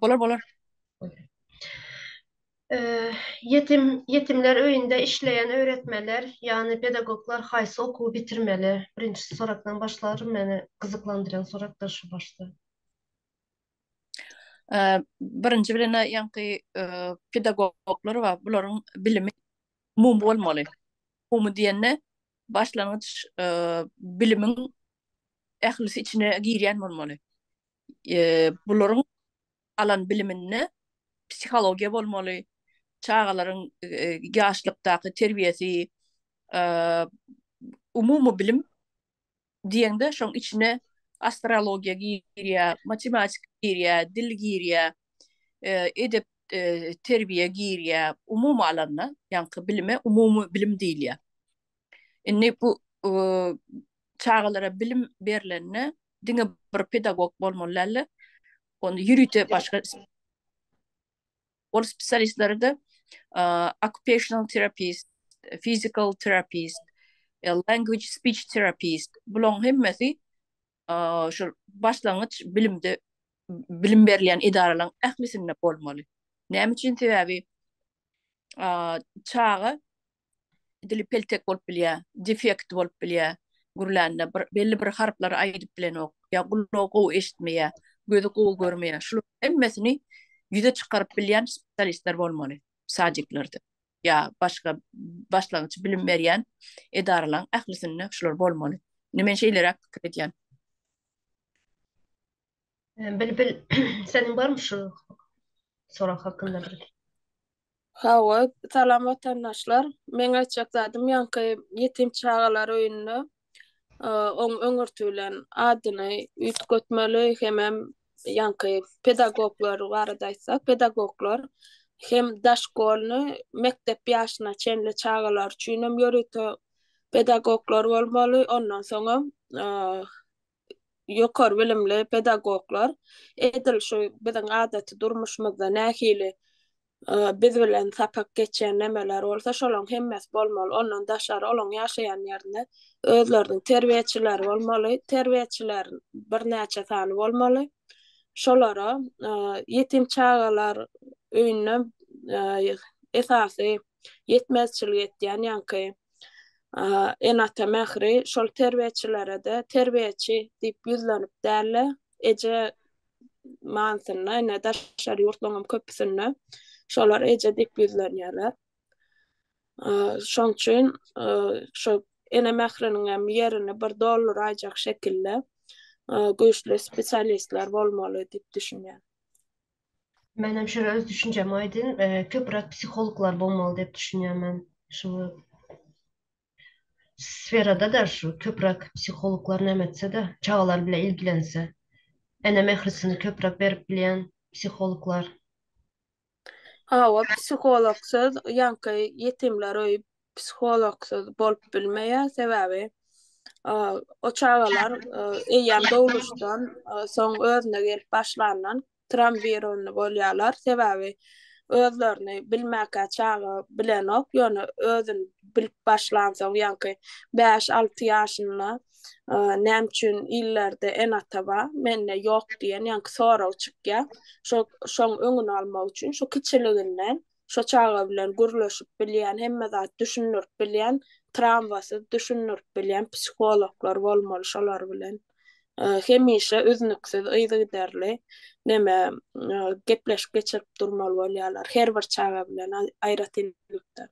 Bolar, bolar. Ýetim, ýetimler öýünde işleýän öwretmeler, ýagny pedagoglar haýsy okuwy bitirmeli? Birinji sorakdan başlaryn, meni gyzyklandyrýan soraklar şu başda. Birinji bilen ýaňky pedagoglar bar, bularyň bilimi umumy bolmaly. Umumy diýende, başlangyç bilimiň ählisi içine girýän bolmaly. Bularyň alan biliminde psihologiýa bolmaly, çagalaryň ýaşlykdaky terbiýesi, umumy bilim diýeňde şoň içine astrologiýa girýär, matematika girýär, dil girýär, edep, terbiýe girýär, umumy alanda, ýaňky bilime umumy bilim diýilýär. Indi bu çagalara bilim berlende diňe bir pedagog bolmaly däldi. Onu ýörite başga ol spesialistleri de occupational therapist, physical therapist, e, language speech therapist bularyň hemmesi şu başlangyç bilimde bilim berilýän edaralaryň ählisinde bolmaly. Näme üçin sebäbi çaga dili peltek bolup bilýär, defekt bolup bilýär, gürlände bir belli bir harplary aýdyp bilenok, ýa gulagy gowy eşitmeýär, gözi gowy görmeýär, şularyň hemmesini ýüze çykaryp bilýän spesialistler bolmaly sadiklerde, ýa başga başlangyç bilim berýän edaralaryň ählisinde şular bolmaly. Indi men şeýleräk pikir edýän. Bilbil, seniň barmy şu sorag hakynda bir? Hawa, salam watandaşlar. Meň aýtjak zadym ýaňky ýetim çagalar öýünde oň öňürti bilen adyny üýtgetmeli hemem ýaňky pedagoglar barada aýtsak, pedagoglar hem daşkolny mekdep ýaşyna çenli çagalar üçin hem ýörite pedagoglar bolmaly, ondan soňam ýokary bilimli pedagoglar edil şu biziň adaty durmuşymyzda nähili biz bilen sapak geçýän nemeler bolsa, şolaryň hemmesi bolmaly. Ondan daşary olaryň ýaşaýan ýerinde özleriniň terbiýeçileri bolmaly, terbiýeçiler birnäçe sany bolmaly. Şolara ýetim çagalar öýünde esasy ýetmezçilik etýän ýaňky ene-ata mähri şol terbiýeçilere-de terbiýeçi diýip ýüzlenip däl-de, eje manysynda, ine, daşary ýurtlaryňam köpüsinde şolar eje diýip ýüzlenýärler. Şoň üçin şu ene mähriniň hem ýerini bir dolduraýjak şekilde güýçli spesialistler bolmaly diýip düşünýän. Menem şöyle öz düşünjemi aýdyn, e, köpürak psihologlar bolmaly dep düşünýän men. Şu sferada da şu köpürak psihologlar näme etse de, çagalar bile ilgilense. Ene mährisini köpürak berip bilýän psihologlar. Hawa psiholog söz ýaňky ýetimler öýi psihologsyz bolup bilmeýär, sebäbi o çagalar eýýäm doguluşdan soň özüne gelip başlandan tramwirowny bolýarlar, sebäbi özlerini bilmäkä çaga bilenok, ýöne özüni bilip başlansoň, ýaňky bäş-alty ýaşynda näme üçin illerde ene-ata bar, mende ýok diýen ýaňky sorag çykýar. Şo, şoň öňüni almak üçin, şu kiçiliginden şo çaga bilen gürleşip bilýän, hemme zat düşündirip bilýän, tramwasyz düşündirip bilýän psihologlar bolmaly şolar bilen. Hemişe üznüksiz, yzygiderli neme gepleşik geçirip durmaly bolýarlar her bir çaga bilen aýratynlykda.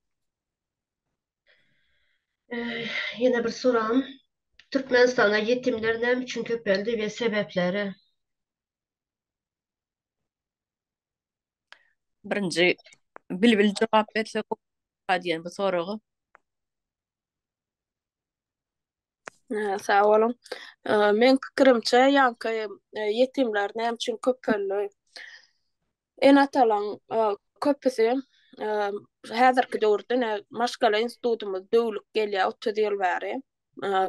Ýene bir soragym, Türkmenistanda ýetimler näme üçin köpeldi we sebäpleri? Birinji bilbil jogap berse diýen bu soraga. Sag boluň. Men pikirimçe ýanky ýetimler näme üçin köpeldi? Ene-atalaň köpüsi häzirki döwürde maşgala institutymyz döwlüp gelýär 30 ýyl bäri.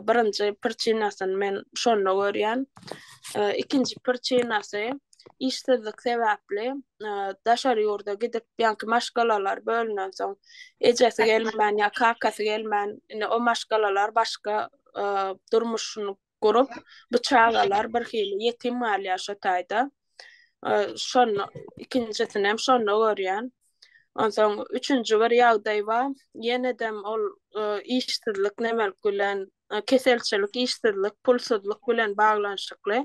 birinji prichinasyn men şonda görýän. Ikinji prichinasy işsizlik sebäpli daşary ýurda gidip ýanky maşgalalar bölünen soň ejesi gelmän ýa kakasy gelmän indi o maşgalalar başga durmuşyny gurup bu çagalar bir hili ýetim galýar şo taýda Şonda ikinjisini hem şonda görýän. Onsoň üçünji bir ýagdaý bar. Ýenedem ol e, işsizlik nemelik bilen, e, keselçilik, işsizlik, pulsuzlyk bilen baglanyşykly.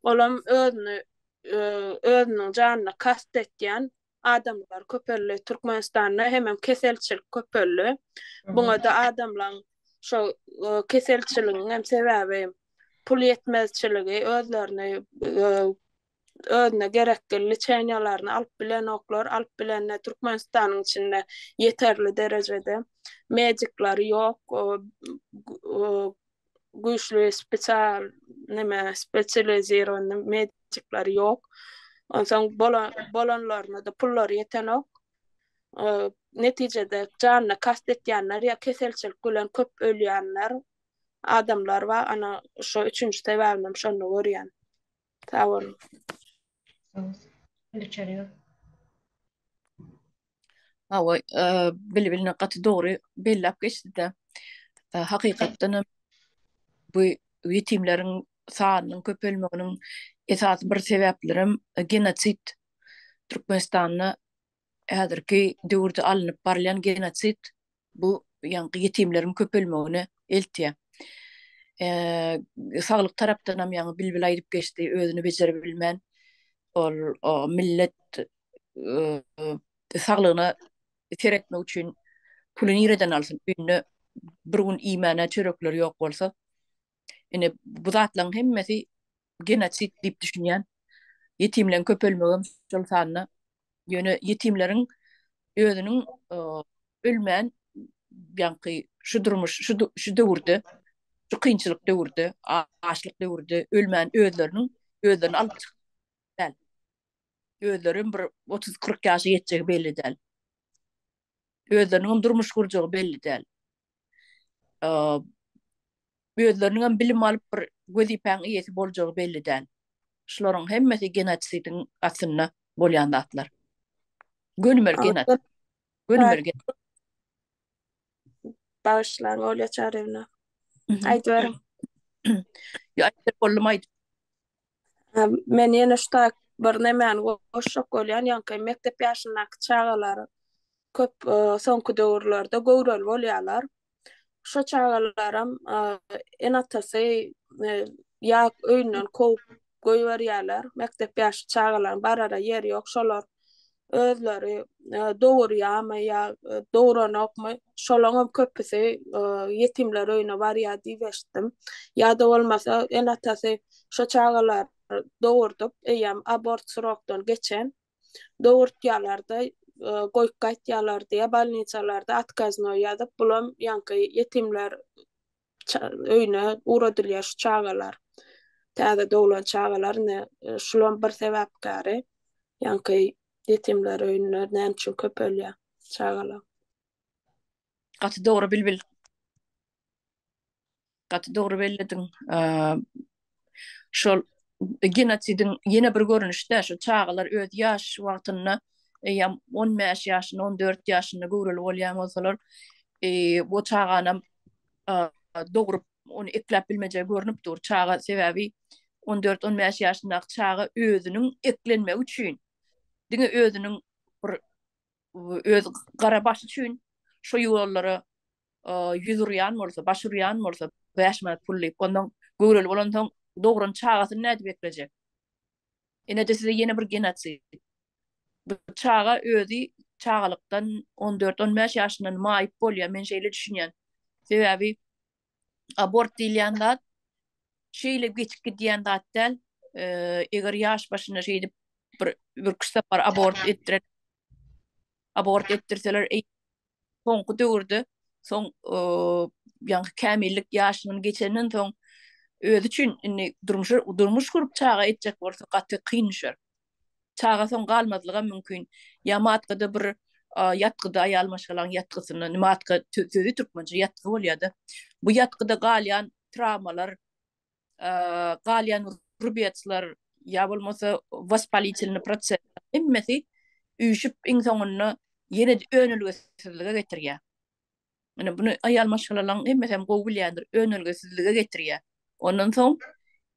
Olam özüni e, özüniň janyna kast etýän adamlar köpeldi. Türkmenistanda hemem keselçilik köpeldi. Buňa-da adamlaň şo keselçiligiň hem sebäbi pul ýetmezçiligi, özlerini özüne gerekli liçeniýalaryny alyp bilenoklar, alyp bilende Türkmenistanyň içinde ýeterli derejede mediklary ýok, güýçli spesial näme spesializirowany medikleri ýok. Onsoň bolan bolanlaryna da pullary ýetenok. Netijede janyna kast etýänler ýa keselçilik bilen köp ölýänler adamlar bar. Ana şu üçünji sebäbini şonda görýän. Sag boluň. Sag boluň. Indi içeri gir. Hawa, bilbilini gaty dogry bellap geçdi-de. Hakykatdan hem bu ýetimleriň sanynyň köpelmeginiň esasy bir sebäpleri hem genosid. Türkmenistanda häzirki döwürde alnyp barylýan genosid Bu ýaňky ýetimleriň köpelmegine eltýär. Saglyk tarapdan hem ýaňy Bilbil aýdyp geçdi, özüni bejerip bilmän, ol millet saglygyna seretmek üçin puly nireden alsyn? Günde bir gün iýmäne çörekleri ýok bolsa, ine bu zatlaryň hemmesi genosid diýip düşünýän. Ýetimleň köpelmegem şol sanda. Ýöne ýetimleriň özüniň ölmän ýaňky şu durmuş şu şu döwürde şu kynçylyk döwürde açlyk döwürde ölmän özleriniň özlerini alyp çyk. Özlerim bir 30-40 ýaşa ýetjegi belli däl. Özleriniň hem durmuş gurjagy belli däl. Özleriniň hem bilim alyp bir wezipäň eýesi boljagy belli däl. Şularyň hemmesi genosidiň astynda bolýan zatlar. Gönümel genosid. Gönümel genosid. Bağışlan Olya Çarevna. Aýdyberin. Ýa aýdyp boldum aýdyp. Men ýene şu bir nämäni goşjak bolýan, ýaňky mekdep ýaşyndaky çagalar köp soňky döwürlerde göwreli bolýarlar. Şo çagalaram ene-atasy ýa öýünden kowup goýberýärler, mekdep ýaşy çagalaryň barara ýeri ýok, şolar özleri dogurýarmy ýa dogranokmy şolaň hem köpüsi ýetimler öýüne barýar diýip eşitdim ýa-da bolmasa ene atasy şo çagalar dogurdyp eýýäm abort srokdan geçen dogurtýarlarda goýup gaýtýarlar diýä bolnisalarda otkaznoi ýazyp bulam ýaňky ýetimler öýüne ugradylýar şu çagalar. Täze doglan çagalar ine şulam bir sebäpkäri. Ýaňky ýetimler öýünde näme üçin köpelýär çagalar? Gaty dogry Bilbil. Gaty dogry bellediň. şol genosidiň ýene bir görnüşde şu çagalar öz ýaş wagtynda eýýäm on bäş ýaşynda, on dört ýaşynda göwreli bolýan bolsalar, bu çaganam dogrup, ony ekläp bilmejegi görnüp dur. Çaga sebäbi on dört, on bäş ýaşyndaky çaga özüniň eklenmegi üçin, diňe özüniň bir öz gara başy üçin şu ýollara ýüz urýan bolsa, baş urýan bolsa, bäş manat pul diýip, ondan göwreli bolansoň, dogran çagasyny nädip eklejek? Ine-de size ýene bir genosid. Bu çaga özi çagalykdan on dört, on bäş ýaşyndan maýyp bolýar, men şeýle düşünýän. Sebäbi abort diýilýän zat şeýle geçip gidýän zat däl. Eger ýaş başynda şeýdip bir bir küçük sapar abort etdirip abort etdirseler, soňky döwürde soň ýa kämillik ýaşynyň geçenden soň özi üçin indi durmuşa durmuş gurup çaga etjek bolsa gaty kyn düşer. Çaga soň galmazlyga mümkin. Ýa matkada bir ýatgyda aýal maşgalaň ýatgysynda matka sözi türkmençe ýatgy bolýar-da. Bu ýatgyda galýan trawmalar galýan rubetsler ýa bolmasa waspalitelny proses hemmesi üýşüp iň soňunda ýene önelgesizlige getirýär. Ýöne bunu aýal maşgalalaryň hemmesi hem gowy bilýändir, önelgesizlige getirýär. Ondan soň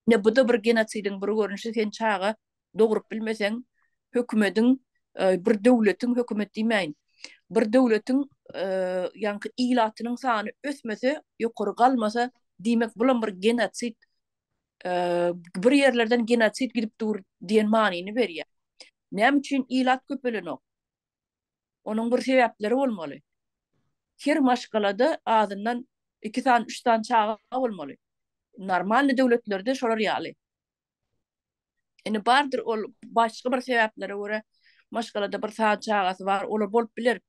ne bu da bir genosidiň bir görnüşi, sen çaga dogrup bilmeseň, hökümediň, bir döwletiň, hökümet diýmäýin, bir döwletiň ýaňky ilatynyň sany ösmese, ýokary galmasa, diýmek bulam bir genosid, bir ýerlerden genosid gidip dur diýen manyny berýär. Näme üçin ilat köpelenok? Onuň bir sebäpleri bolmaly. Her maşgalada azyndan iki sany, üç sany çaga bolmaly. Normalny döwletlerde şolar ýaly. Indi bardyr ol başga bir sebäplere görä maşgalada bir sany çagasy bar, olar bolup biler.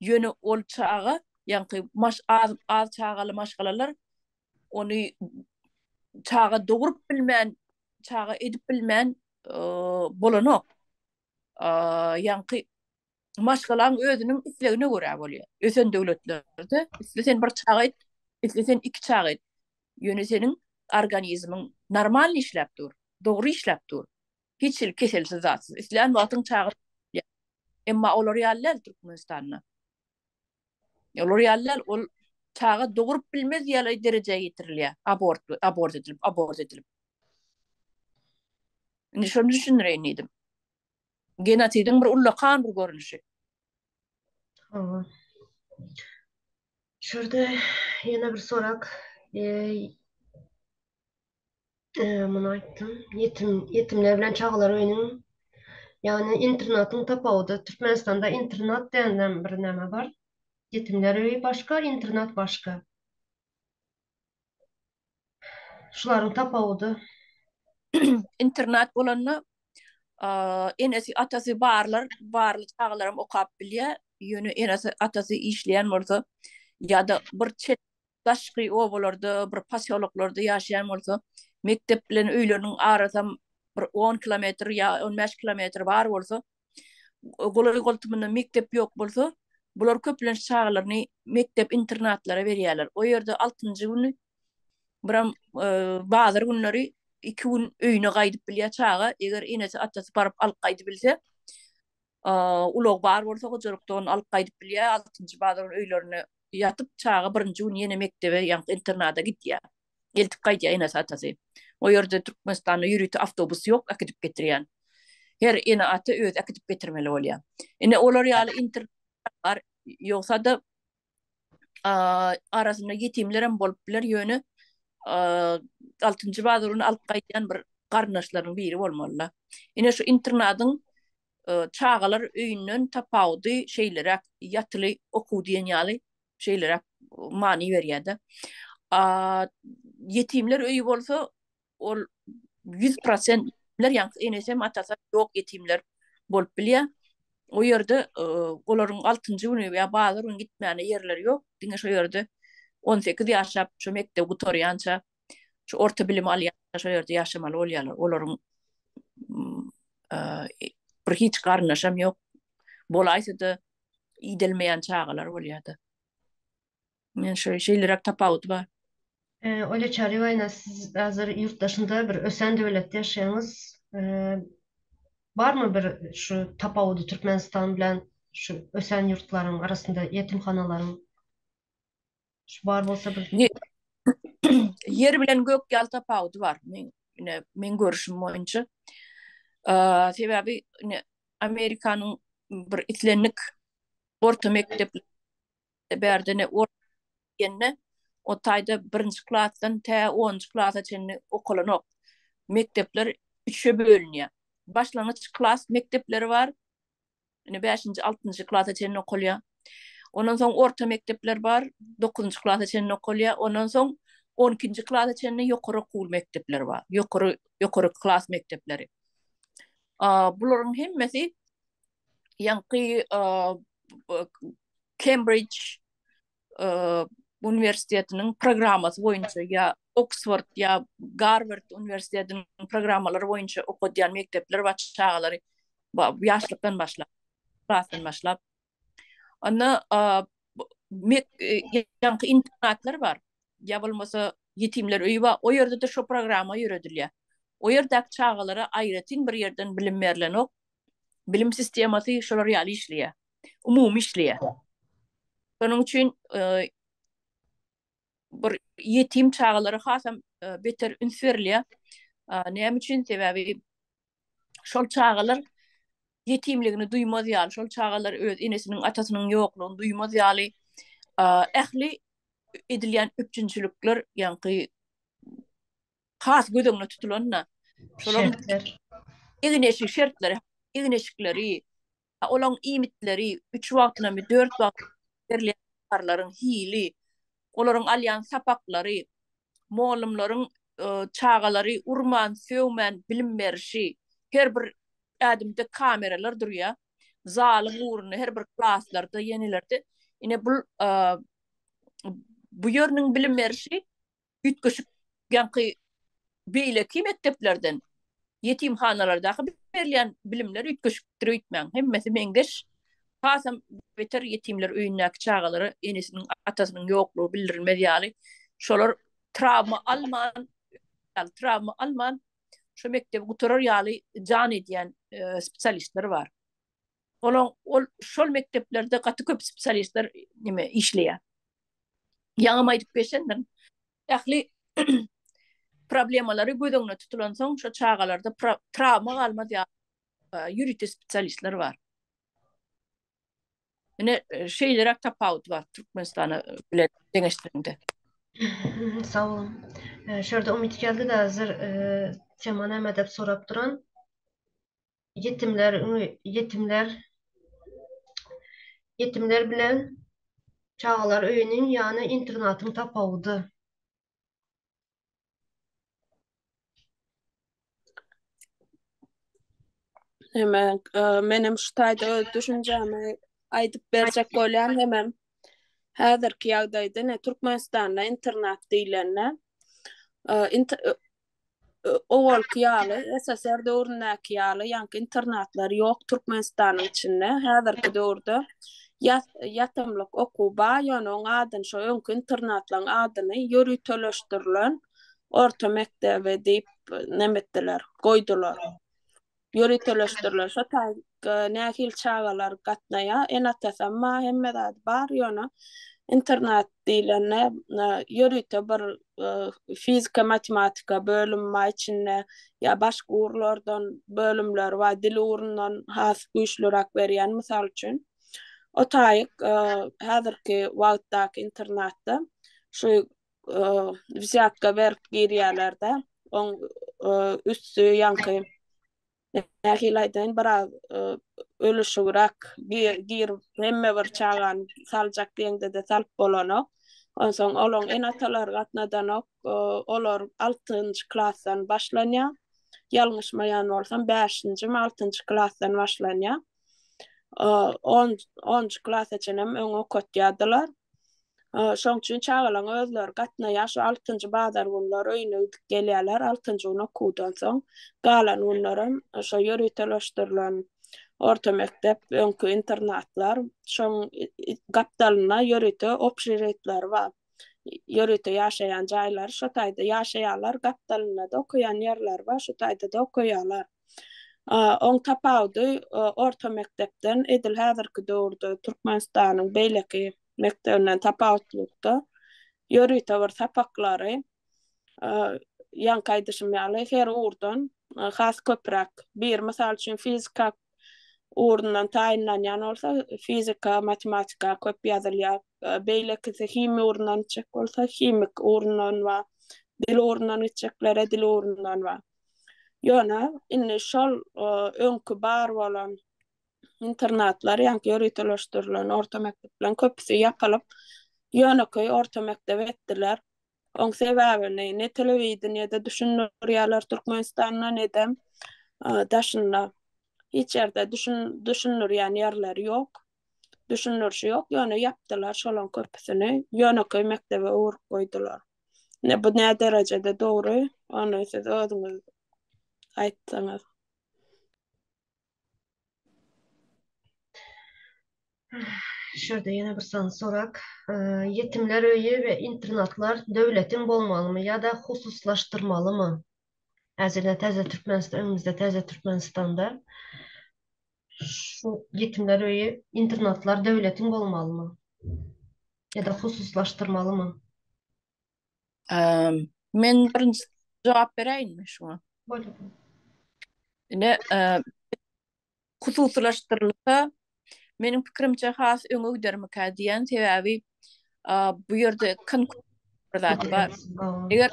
Ýöne ol çaga, ýaňky maş az az çagaly maşgalalar ony çaga dogrup bilmän, çaga edip bilmän bolanok. Ýaňky maşgalaň özüniň islegine görä bolýar. Ösen döwletlerde isle sen bir çaga et, isle sen iki çaga et. Ýöne seniň organizmiň normal işläp dur, dogry işläp dur. Hiç hil keselsiz zatsyz. Islän wagtyň çaga Emma olar ýaly däl Türkmenistanda. Olar ýaly däl, ol çaga dogrup bilmez ýaly derejä ýetirilýär. Abort, abort edilip, abort edilip. Indi şony düşündireýin diýdim. Genosidiň bir ullakan bir görnüşi. Hawa. Şu ýerde ýene bir sorak. Muny aýtdym. Ýetim, ýetimler bilen çagalar öýüniň, ýagny internatyň tapawudy. Türkmenistanda internat diýen bir näme bar. Ýetimler öýi başga, internat başga. Şularyň tapawudy. Internat bolanda enesi atasy barlar, barly çagalaram okap bilýär. Ýöne enesi atasy işleýän bolsa ýa-da bir çet daşky obalarda, bir posýoloklarda ýaşaýan bolsa, mekdep bilen öýleriniň arasam bir on kilometr ýa on bäş kilometr bar bolsa, golaý-goltumynda mekdep ýok bolsa, bular köplenç çagalaryny mekdep-internatlara berýärler. O ýerde altynjy güni, biram bazar günleri iki gün öýüne gaýdyp bilýär çaga, eger enesi-atasy baryp alyp gaýdy bilse, ulag bar bolsa, hojalykda ony alyp gaýdyp bilýär, altynjy bazar öýlerinde ýatyp, çaga birinji gün ýene mekdebe, ýa-da internada gidýär. Eltip gaýdýar enesi-atasy. O ýerde Türkmenistanda ýörite awtobus ýok äkidip getirýän. Her ene-ata özi äkidip getirmeli bolýar. Ine olar ýaly internet bar. Ýogsa-da arasynda ýetimler hem bolup biler, ýöne altynjy bazardan alyp gaýdýan bir garyndaşlaryň biri bolmaly-da. Ine şu internadyň çagalar öýünden tapawudy şeýleräk, ýatyly okuw diýen ýaly şeýleräk many berýär-de. A ýetimler öýi bolsa ol 100% ler ýaňky enesi hem atasy hem ýok ýetimler bolup bilýär. O ýerde e, olaryň altynjy güni ýa bazar güni gitmäne ýerleri ýok. Diňe şo ýerde 18 ýaşap, şo mekdebi gutarýança, şu orta bilim alýança şo ýerde ýaşamaly bolýarlar. Olaryň mm, e, bir hiç garyndaşam ýok. Bolaýsa-da idilmeýän çagalar bolýardy. Men şeý şeýleräk tapawut bar. Olýa Çaryýewna, siz häzir ýurt daşynda bir ösen döwletde ýaşaýaňyz. Barmy bir şu tapawudy Türkmenistan bilen şu ösen ýurtlaryň arasynda ýetimhanalaryň? Şu bar bolsa bir. Ýer bilen gök ýal tapawudy bar. Men ine men görüşim boýunça. Eee sebäbi ine Amerikanyň bir islendik orta mekdep bärdene or ýenne o taýda birinji klasdan tä 10-njy klasa çenli okalanok. Mekdepler üçe bölünýär. Başlangyç klas mekdepleri bar. Indi bäşinji, altynjy klasa çenli okalýar. Ondan soň orta mekdepler bar, dokuzynjy klasa çenli okalýar. Ondan soň on ikinji klasa çenli ýokary okuw mekdepleri bar, ýokary ýokary klas mekdepleri. Bularyň hemmesi ýaňky Kembrij, uniwersitetiniň programmasy boýunça ýa Oksford ýa Garward uniwersitetiniň programmalary boýunça okadýan mekdepler bar, çagalary ýaşlykdan başlap, klasdan başlap. Onda ýaňky internatlar bar, ýa bolmasa ýetimler öýi bar, o ýerde-de şo programma ýöredilýär. O ýerdäki çagalara aýratyn bir ýerden bilim berlenok, bilim sistemasy şolar ýaly işleýär. Umumy işleýär. Şonuň üçin bir ýetim çagalara hasam beter üns berilýär. Näme üçin? Sebäbi şol çagalar ýetimligini duýmaz ýaly, şol çagalar öz enesiniň, atasynyň ýoklugyny duýmaz ýaly ähli edilýän üpjünçilikler, ýaňky has göz öňünde tutulanda şolaryň egin-eşik şertleri, egin-eşikleri, olaryň iýmitleri, üç wagtynamy, dört wagt berilýän naharlaryň hili, olaryň alýan sapaklary, mugallymlaryň çagalary urman, sögmän bilim berişi, her bir ädimde kameralar durýar. Zalyň ugrunda her bir klaslarda, ýenelerde ine bu bu ýeriniň bilim berişi üýtgeşik ýaňky beýleki mekdeplerden ýetimhanalardaky berilýän bilimler üýtgeşikdir öýtmäň. Hemmesi meňzeş. Hasam beter ýetimler öýündäki çagalara enesiniň, atasynyň ýoklugy bildirilmez ýaly. Şolar trawma alman, trawma alman, şu mekdebi gutarar ýaly jan edýän spesialistler bar. Olar ol şol mekdeplerde gaty köp spesialistler nime işleýär. Ýaňam aýdyp geçendim. Ähli problemalary göz öňüne tutulan soň şu çagalarda travma galmaz ýa ýörite spesialistler bar. Ine şeýleräk tapawut bar Türkmenistana bilen deňeşdirende. Sag boluň. Şurada umyt geldi de hazır tema näme dep sorap duran. ýetimler ýetimler ýetimler bilen çagalar öýüniň ýa-da internatyň tapawudy. Hemen menem şu taýda öz düşünjämi aýdyp berjek bolýan hemem häzirki ýagdaýda ne Türkmenistanda internat diýlende owalky ýaly, SSR döwründäki ýaly ýaňky internatlar ýok Türkmenistanyň içinde. Häzirki döwürde ýatymlyk okuw bar, ýöne onuň adyny şo öňki internatlaryň adyny ýöriteleşdirilen orta mekdebi diýip, näme etdiler, goýdular. Ýöriteleşdirilen. Şo taýda nähili çagalar gatnaýar? Ene-atasam bar, hemme zady bar, ýöne internat diýlende ýörite bir fizika, matematika bölümi bar içinde, ýa başga ugurlardan bölümler bar, dil ugrundan has güýçliräk berýän, mysal üçin. O taýyk häzirki wagtdaky internatda şu wzýatka berip girýärler-de, oň üsti ýaňky nähili aýdaýyn, biraz ölüşigräk girip, hemme bir çagany saljak diýende-de salyp bolanok. Onsoň olaryň ene-atalary gatnadanok, olar altynjy klasdan başlanýar, ýalňyşmaýan bolsam, bäşinjimi, altynjy klasdan başlanýar. on, onunjy klasa çenem öňe okatýardylar. Şoň üçin çagalaň özleri gatnaýar, şu altynjy bazar günleri öýüne gidip gelýärler, altynjy gün okuwdan soň, galan günlerem şo ýöriteleşdirilen orta mekdep, öňki internatlar, şoň gapdalynda ýörite obşi reýdleri bar. ýörite ýaşaýan jaýlary şo taýda ýaşaýarlar, gapdalynda-da okaýan ýerleri bar, şu taýda-da okaýarlar. Oň tapawudy orta mekdepden edil häzirki döwürde Türkmenistanyň beýleki mekdebinden tapawutlylykda ýörite bir sapaklary ýaňky aýdyşym ýaly her ugurdan has köpräk, bir, mysal üçin, fizika ugrundan taýynlanýan bolsa, fizika, matematika köp ýazylýar. Beýlekisi himiýa ugrundan gitjek bolsa, himik ugrundan bar. Dil ugrundan gitjeklere dil ugrundan bar. Ýöne indi şol öňki bar bolan internatlar, ýaňky ýöriteleşdirilen orta mekdepleň köpüsi ýapylyp, ýönekeý orta mekdep etdiler. Oň sebäbini ne telewideniýede düşündirýärler Türkmenistanda, ne-de daşynda. Hiç ýerde düşündirýän ýerleri ýok. Düşündirişi ýok, ýöne ýapdylar şolaň köpüsini, ýönekeý mekdebe öwürip goýdular. Ine, bu nä derejede dogry, ony siz özüňiz aýtsaňyz. Şurada ýene bir sany sorak. Ýetimler öýi we internatlar döwletiň bolmalymy ýa-da hususlaşdyrmalymy? Häzirde täze Türkmenistan, öňümizde täze Türkmenistanda şu ýetimler öýi, internatlar döwletiň bolmalymy ýa-da hususlaşdyrmalymy? Eee, men birinji jogap beräýinmi şuňa? Bolýar. Ine, eee, hususylaşdyrylsa, meniň pikirimçe, has öňe gidermikä diýýän, sebäbi, eee, bu ýerde konku bir zat bar. Eger,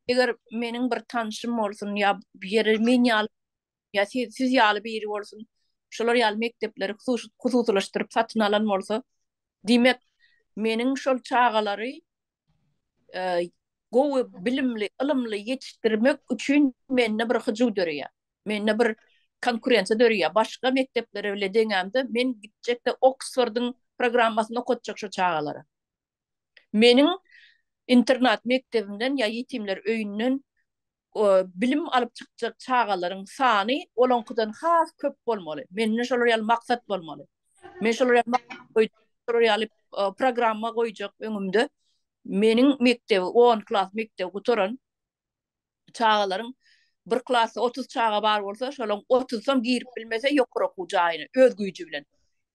eger meniň bir tanşym bolsun ýa bu ýere men ýaly ýa siz siz ýaly biri bolsun, şolar ýaly mekdepleri hususylaşdyryp satyn alan bolsa, diýmek, meniň şol çagalary gowy bilimli, ylymly ýetişdirmek üçin mende bir hyjuw döreýär. Mende bir konkurensiýa döreýär. Başga mekdepler bile deňämde, men gitjek-de Oksfordyň programmasyny okatjak şo çagalary. Meniň internat mekdebimden ýa ýetimler öýünden bilim alyp çykjak çagalaryň sany olaňkydan has köp bolmaly. Mende şolar ýaly maksat bolmaly. Men şolar ýaly maksat goýdum. Şolar ýaly programma goýjak öňümde. Meniň mekdebi, on klas mekdebi gutaran çagalaryň bir klasda otuz çaga bar bolsa, şolaryň otuzysam girip bilmese ýokary okuw jaýyna, öz güýji bilen.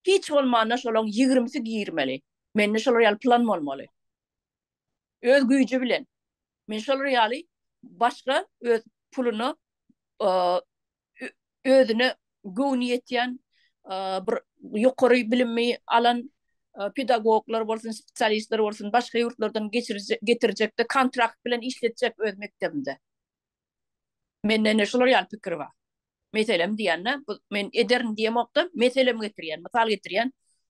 Hiç bolmanda şolaryň ýigrimisi girmeli. Mende şolar ýaly plan bolmaly. Öz güýji bilen. Men şolar ýaly başga öz puluna özüne göwni ýetýän bir ýokary bilimi alan pedagoglar bolsun, spesialistler bolsun, başga ýurtlardan getirjekde kontrakt bilen işletjek öz mekdebinde. Mende ne şular ýaly pikir bar. Meselem diýende, men ederin diýemokda, meselem getirýän, mysal getirýän.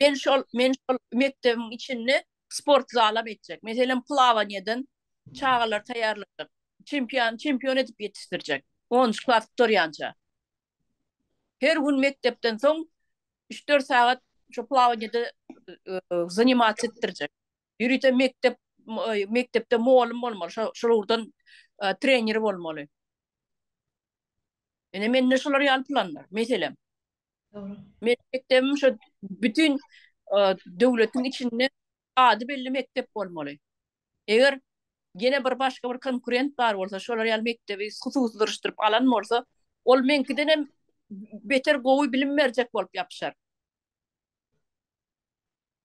Men şol men şol mekdebiň içinde sport zalam etjek. Meselem plawaniýadan çagalar taýýarlajak. Çempion, çempion edip ýetişdirjek. 10-njy klas gutarýança. Her gün mekdepden soň 3-4 sagat şu plawaniýada zanimasiýa etdirjek. Ýörite mekdep mekdepde mugallym bolmaly, şo şol ugurdan trener bolmaly. Ine mende şolar ýaly planlar, meselem. Men mekdebim şu bütün döwletiň içinde ady belli mekdep bolmaly. Eger gene bir başga bir konkurent bar bolsa, şolar ýaly mekdebi hususylaşdyryp alan bolsa, ol meňkiden hem beter gowy bilim berjek bolup ýapyşar.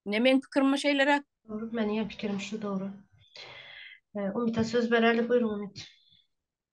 Ne meň pikirimi şeýleräk. Meniň hem pikirim şu dogry. Umyta söz beräli, buýruň Umyt.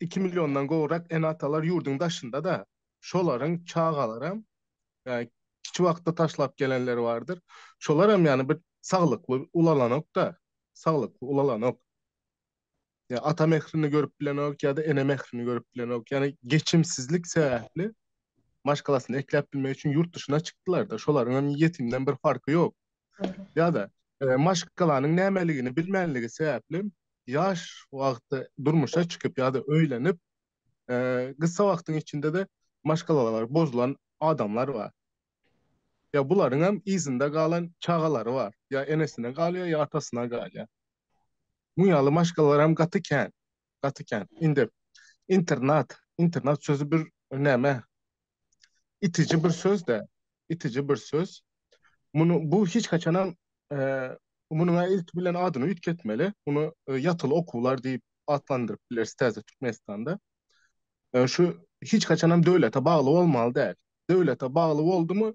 Iki milliondan gowrak ene-atalar ýurduň daşynda-da, şolaryň çagalaram, ýa-ni kiçi wagtda taşlap gelenleri bardyr. Şolaram ýa-ni bir saglykly ulalanok-da, saglykly ulalanok. Ýa ata mährini görüp bilenok, ýa-da ene mährini görüp bilenok. Ýa-ni geçimsizlik sebäpli maşgalasyny ekläp bilmek üçin ýurt dyşyna çykdylar-da, şolaryňam ýetimden bir parky ýok. ýa-da maşgalanyň nämeligini bilmänligi sebäpli ýaş wagtda durmuşa çykyp ýa-da öýlenip, gysga wagtyň içinde-de maşgalalary bozulan adamlar bar. Ýa bularyň hem yzynda galan çagalary bar. Ýa enesine galýar, ýa atasyna galýar. Muň ýaly maşgalalar hem gaty kän. gaty kän. Indi internat, internat sözi bir näme? Itiji bir söz-de, itiji bir söz. Muny bu hiç haçanam munuň ilki bilen adyny üýtgetmeli. Muny ýatyl okuwlar diýip atlandyryp bileris täze Türkmenistanda. Şu hiç haçanam döwlete bagly bolmaly däl. Döwlete bagly boldumy,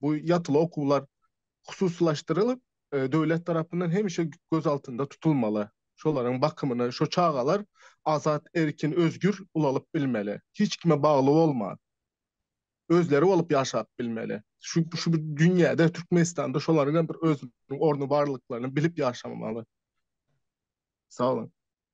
Bu ýatyly okuwlar hususylaşdyrylyp, döwlet tarapyndan hemişe göz altynda tutulmaly. Şolaryň bakymyny şo çagalar azat, erkin, özgür ulalyp bilmeli. Hiç kime bagly bolman, özleri bolup ýaşap bilmeli. Şu şu dünýäde, Türkmenistanda şolaryň hem bir özüniň orny barlyklaryny bilip ýaşamaly. Sag boluň.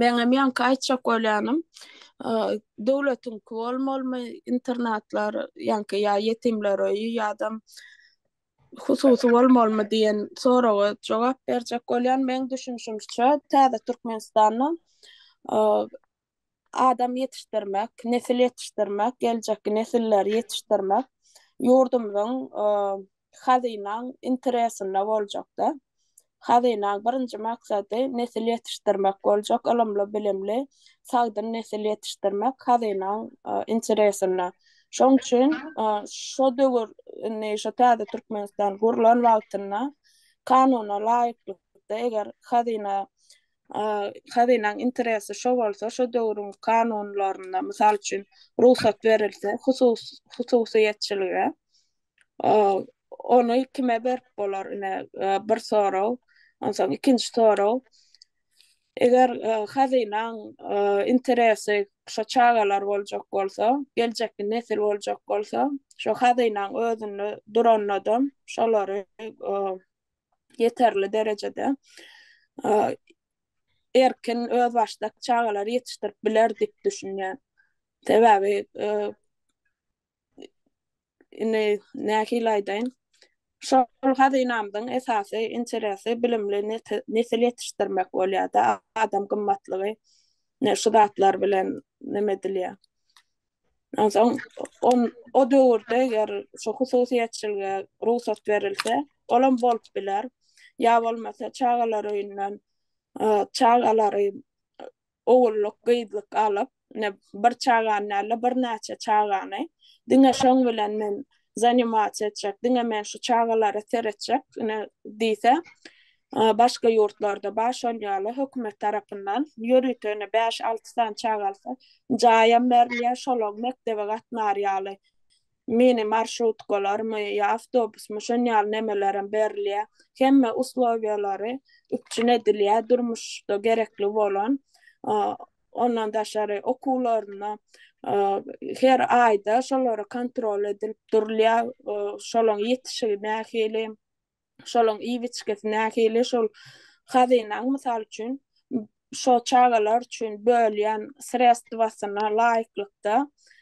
Meňem ýaňky aýtjak bolýanym, döwletiňki bolmalymy internatlar, ýaňky ýa ýetimler öýi ýa-da hususy bolmalymy diýen soraga jogap berjek bolýan. Meň düşünişimçe, täze Türkmenistanda adam ýetişdirmek, nesil ýetişdirmek, geljekki nesilleri ýetişdirmek ýurdumyzyň hazynaň interesinde boljakda. Hazynaň birinji maksady nesil ýetişdirmek boljak, ylymly-bilimli, sagdyn nesil ýetişdirmek hazynaň interesinde. Şoň üçin şu döwür, indi şu täze Türkmenistan gurlan wagtynda kanuna laýyklykda eger hazyna Hazynaň interesi şo bolsa, şo döwrüň kanunlarynda, mysal üçin, rugsat berilse hususyýetçilige, ony kime berip bolar? Ine, bir sorag. Onsoň ikinji sorag. Eger hazynaň interesi şo çagalar boljak bolsa, geljekki nesil boljak bolsa, şo hazynaň özünde duranadam şolary ýeterli derejede erkin özbaşdak çagalary ýetişdirip biler diýip düşünýän. Sebäbi indi nähili aýdaýyn? Şol hazynamyzyň esasy interesi bilimli nesil ýetişdirmek bolýar-da, adam gymmatlygy şu zatlar bilen neme edilýär. Onsoň o döwürde eger şu hususyýetçilige rugsat berilse, olam bolup biler. Ýa bolmasa çagalar öýünden çagalary ogulluk, gyzlyk alyp, ine bir çagany däl-de birnäçe çagany diňe şoň bilen men zanimasiýa etjek, diňe men şu çagalara seretjek ine diýse, Başga ýurtlarda bar şol ýaly hökümet tarapyndan ýörüteni bäş alty sany çaga alsa jaýam berilýär şolam mekdebe gatnar ýaly mini marşrutkalarmy ýa awtobusmy şon ýaly nemelerem berilýär hemme uslowiýalary üpjün edilýär durmuşda gerekli bolan ondan daşary okuwlaryna her aýda şolara kontrol edilip durulýar şolaň ýetişigi nähili. Şolaň iwiçgesi nähili? Şol hazynaň, mysal üçin, şo çagalar üçin bölýän sredstwasyna laýyklykda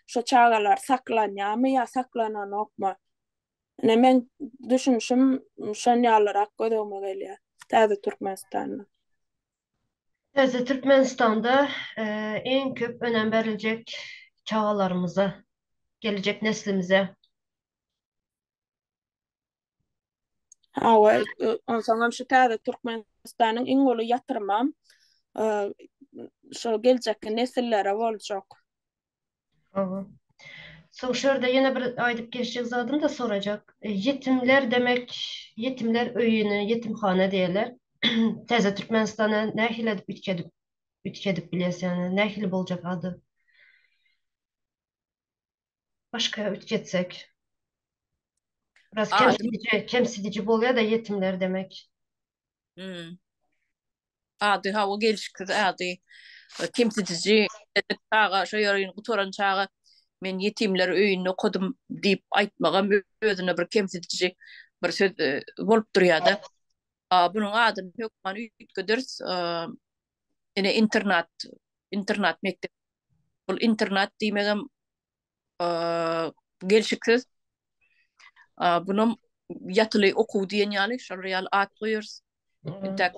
şo çagalar saklanýarmy ýa saklananokmy? Ine, meň düşünişim şonýalyrak göz öňüme gelýär täze Türkmenistanda. Täze Türkmenistanda iň köp önem beriljek çagalarymyza, geljek neslimize. Hawa, onsoňam şu täze Türkmenistanyň iň uly ýatyrymam şol geljekki nesillere boljak. Hawa. Soň şu ýerde ýene bir aýdyp geçjek zadym-da sorajak. Ýetimler demek, ýetimler öýüni ýetimhana diýerler. Täze Türkmenistana nähili edip üýtgedip üýtgedip bilýäs, ýagny nähili boljak ady? Başka geçsek. Biraz Aa, kemsidici, kemsidici bolýar da yetimler demek. Hmm. Ady hava gelişiksiz ady. Kemsidici çaga şu ýörün gutaran çaga men yetimler öýünde okadym diýip aýtmagam özüne bir kemsidici bir söz e, bolup durýar da. Aa, bunuň adyny hökman üýtgederis. Aa, ine internat internat mekdep bul internat diýmegem gelşiksiz bunam ýatyly okuw diýen ýaly şol real at goýarys entek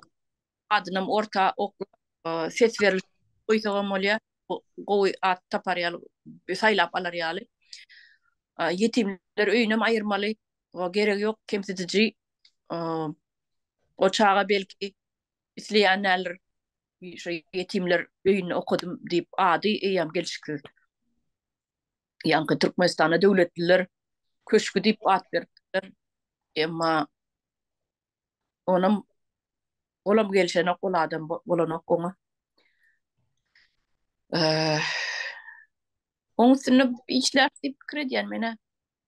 adynam orta okul ses beril goýsagam bolýar gowy at tapar ýaly saýlap alar ýaly ýetimler öýünem aýyrmaly gerek ýok kemsidiji o çaga belki isleýän däldir. Şu ýetimler öýünde okadym diýip ady eýýäm gelşiksiz. Ýaňky Türkmenistana döwletliler köşgi diýip at beripdiler. Emma onuň olam gelşenok, ol adam bolanok oňa. Oň üstünde işläp diýip pikir edýän menä.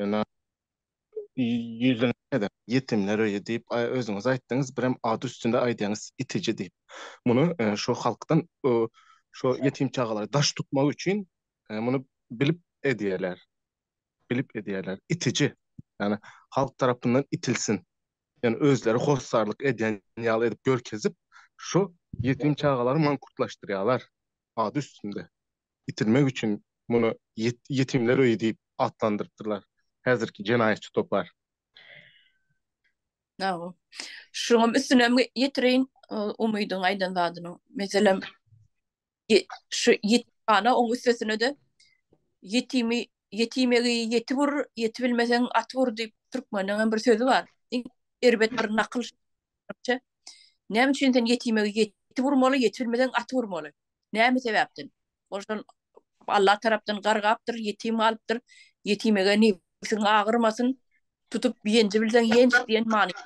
Ýöne ýüzlenmede ýetimler öýi diýip özüňiz aýtdyňyz, birem ady üstünde aýdýaňyz itiji diýip. Muny şo halkdan şo ýetim çagalary daş tutmak üçin muny bilip edýärler. Bilip edýärler. Itiji. Ýagny halk tarapyndan itilsin. Ýagny özleri hossarlyk edýän ýaly edip görkezip, şo ýetim çagalary mankurtlaşdyrýarlar ady üstünde. itirmek üçin muny ýetimler öýi diýip atlandyrypdyrlar häzirki jenaýatçy topar. Hawa. Şuňam üstüne hem ýetireýin Umydyň aýdan zadynyň. Meselem, şu ýetimhana oň üstesine-de ýetimi ýetimegi ýeti bur, ýeti bilmeseň aty bur diýip türkmeniň hem bir sözi bar. Erbet bir nakyl. Çe, Näme üçin sen ýetimegi ýetip urmaly, ýetip bilmeseň atyp urmaly? Näme sebäpden? Ol şol Allah tarapdan gargapdyr, ýetim galypdyr. Ýetimege nebsiň agyrmasyn, tutup ýenji bilseň ýenç diýen many.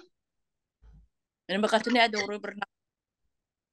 Indi bu gaty nädogry bir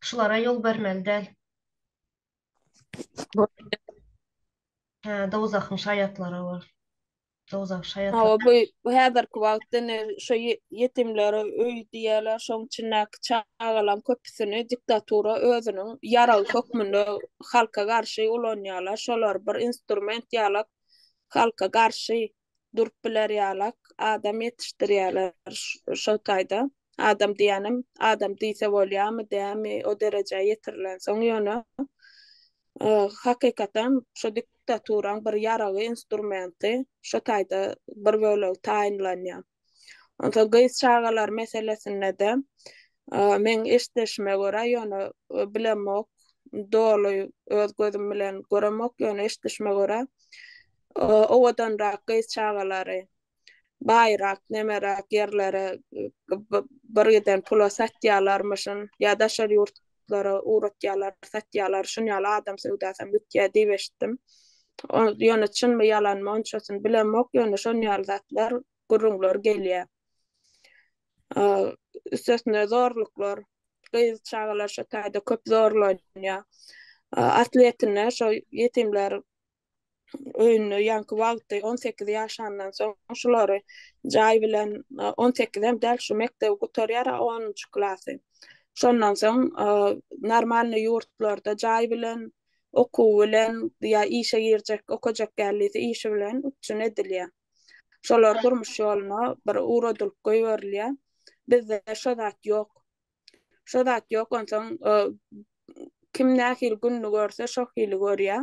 Şulara ýol bermeli däl. Hä, dowzahyň şaýatlary bor. Dowzah şaýatlary. Hawa, bu bu häzirki wagtda ne şu ýe- ýetimlere öý diýýärler, şoň içindäki çagalaryň köpüsini diktatura özüniň ýaragy hökmünde halka garşy ulanýarlar. Şolar bir instrument ýalak halka garşy durup biler ýalak adam ýetişdirýärler şo taýda. Adam diýenim, adam diýse bolýamy, dämi, o derejä ýetirilensoň ýöne hakykatan şo diktaturaň bir ýaragy, instrumenti şo taýda bir bölegi taýynlanýar. Onsoň gyz çagalar meselesinde-de meň eşidişime görä, ýöne bilemok, doly öz gözüm bilen göremok, ýöne eşidişime görä, owadanrak gyz çagalary baýrak, nemerak ýerlere birgiden pula satýalarmyşyn, ýa daşary ýurt ýurtlara ugratýarlar, satýarlar, şuny ýaly adam söwdasam gitýär diýip eşitdim. Ýöne çynmy, ýalanmy onçasyny bilemok, ýöne şon ýaly zatlar, gürrüňler gelýär. Üstesine zorluklar, gyz çagalar şo taýda köp zorlanýar. Aslyýetinde şo ýetimler öýünde ýaňky wagty on sekiz ýaşandan soň şulary jaý bilen e, on sekizem däl şu mekdebi gutarýar onunjy klasy şondan soň e, normalny ýurtlarda jaý bilen okuw bilen ýa işe girjek okajak gällisi işi bilen üçin edilýär şolar durmuş ýoluna bir uradylyp goýberilýär bizde şo zat ýok Şo zat ýok, onsoň kim nähili gününi görse, şo hili görýär.